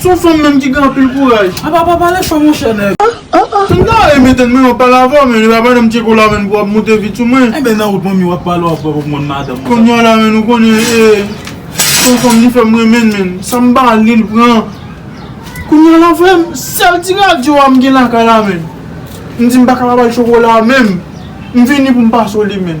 Son fanm menm ki gen anpil kouraj. Apa pa pale fò monchè nèg. M ta renmen tande manmi wap pale avèw men li pa banm tcheko la menm pou wap moute vit sou mwen. Enben nan wout manmi wap pale wap wè wap konn madanm ou. Konnya la menm nou konnen son fanm li fèm renmenl menm sam pa al lil pran konnya la frèm sèl ti radyo a m gen lakay la menm m di m paka pa bal chokola menm m vini pou m pase w li menm.